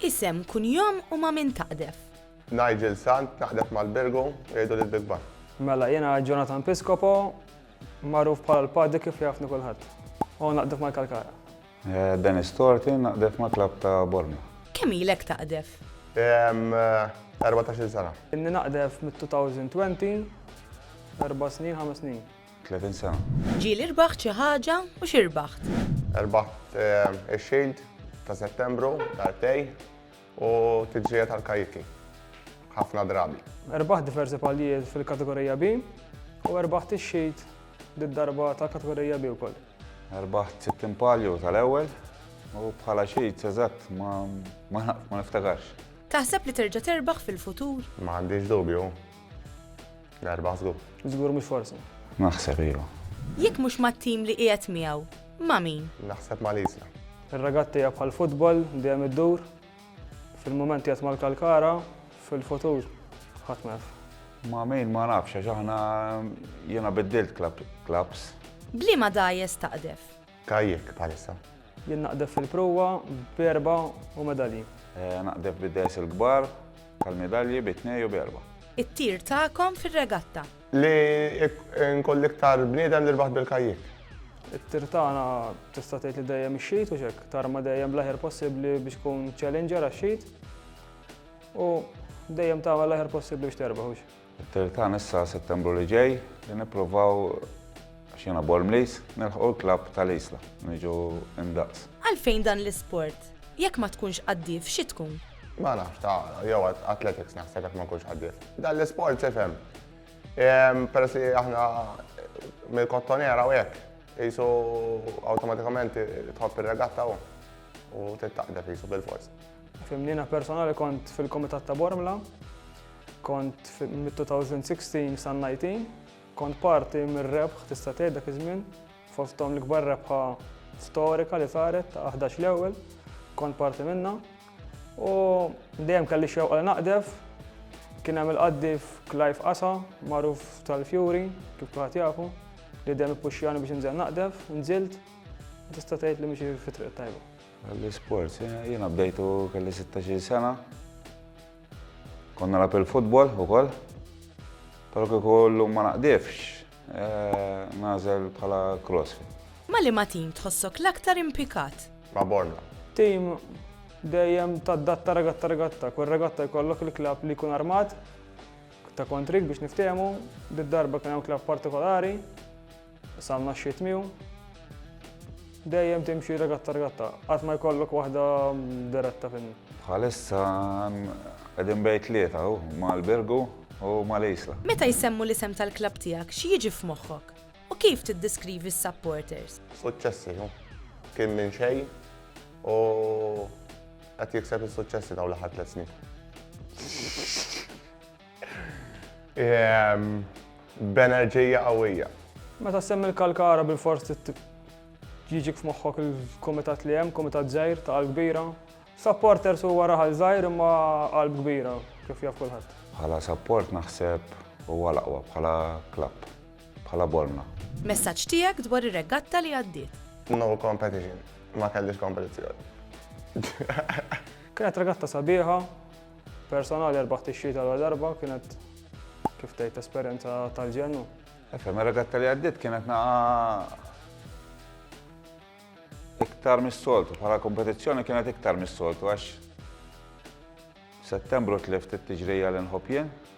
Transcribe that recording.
Isem, kunjom u ma' min taqdef. Nigel Sant, naqdef mal-Birgu, jgħidu li l-Big Bang. Mela, jiena Jonathan Piscopo, magħruf bħala l-Paddy kif jafni kulħadd, u naqdef mal-Kalkara. Dennis Torti, naqdef mal-klabb ta' Bormla. Kemm ilek taqdef? Erbatax-il sena. Inni naqdef mit-2020, erba' snin, ħames snin. 30 sena. Ġieli rbaħt xi ħaġa u xi rbaħt? Rbaħt ix-Shield ta' Settembru, dartej, u tiġrija tal-kajiki. Ħafna drabi. Rbaħt diversi paljiet fil-Kategorija B u rbaħt ix-Shield did-darba tal-Kategorija B wkoll. Rbaħt 60 palju tal-ewwel u bħala Shield eżatt ma niftakarx. Taħseb li terġa' terbaħ fil-futur? M'għandix dubju. L-erba' żgur. Żgur mhux forsi. Naħseb iva. Jekk mhux mat-tim li qiegħed miegħu, ma' min? Naħseb ma' Lisla. Ir-regatti hija bħal futbol, dejjem iddur. Fil-mument qiegħed mal-kalkara, fil-futur ħadd ma jaf. Ma' min ma nafx għax aħna jiena biddilt clubs. B'liema dgħajjes taqdef? Kajjek bħalissa. Jien naqdef fil-pruwa b'erbgħa u medalji. Naqdef bid-dehrs il-kbar tal-medalji bi tnej u b'erbgħa. It-tir tagħkom fir-regatta. Li nkun l-iktar bniedem li rbaħt bil-kajjek. It-tir tagħna tista' tgħid li dejjem ix-xit hux hekk, tarma dejjem bl-aħjar possibbli biex tkun challenger għax-xit u dejjem tagħmel l-aħjar possibbli biex terbaħ hux. It-tir tagħna issa Settembru li ġej li nipprovaw, għax jiena Bormliż, nilħqu l-klabb tal-Isla, niġu indaqs. Għalfejn dan l-isport? Jekk ma tkunx qaddif, f'xi tkun? Ma nafx, ta' jew athletics naħseb jekk ma nkunx qaddif. Dan l-isport x'ifhem? Peress li aħna mill-Kottonera u hekk, qisu awtomatikament tħobb ir-regatta u tittaqdef qisu bilfors. Fimnina personali kont fil-Komitat ta' Bormla, kont mit-2016 sa' 19, kont parti mir-rebħ tista' tgħid dak iż-żmien, fosthom l-ikbar rebħa storika li saret ta' 11 l-ewwel, kont parti minnha. U dejjem kelli xewqa li naqdef, kien hemm il-qaddif Clive Qasa, magħruf tal-Fjuri, kif kulħadd jafu, li dejjem ippuxxjani biex inżel naqdef, nżilt, tista' tgħid li mixi fit-triq tajba. L-isport, jiena bdejtu kelli 16 sena. Konna nagħlab il-futbol ukoll. Però kieku llum ma naqdifx, eh, nażel bħala crossfit. Ma' liema tim tħossok l-aktar impikat? Ma' Bormla. Tim dejjem tadatta regatta regatta. Kull regatta jkollok il-klabb li jkun armat ta' kontrik biex niftehmu. Did-darba kien hemm klabb partikolari. Salna xi tmiju. Dejjem timxi regatta regatta, qatt ma jkollok waħda diretta fin. Bħalissa qegħdin bejn tlieta hu mal-Birgu u mal-Isla. Meta jsemmu l-isem tal-klabb tiegħek xi jiġi f'moħħok? U kif tiddiskrivi s-supporters? Suċċessi hu. Kien minn xejn u qed jikseb is-suċċessi dawn l-aħħar tliet snin. Ehm, b'enerġija qawwija. Meta semmi l-kalkara bil-fors jiġik f'moħħok il-komitat li hemm, komitat żgħir ta' qalb kbira. Supporters huwa raħal żgħir imma qalb kbira kif jaf kulħadd. Bħala support naħseb huwa l-aqwa bħala klapp, bħala bolna. Messaġġ tiegħek dwar ir-regatta li għaddiet. No competition, ma kellix kompetizzjoni. Kienet regatta sabiħa, Personali erbaħ tixjih tal-ewwel darba kienet kif tgħid esperjenza tal-ġennu. Efhem, ir-regatta li għaddiet kienet naqa iktar mis-soltu, bħala kompetizzjoni kienet iktar mis-soltu għax Settembru tlift it-tiġrija l-inħob jien.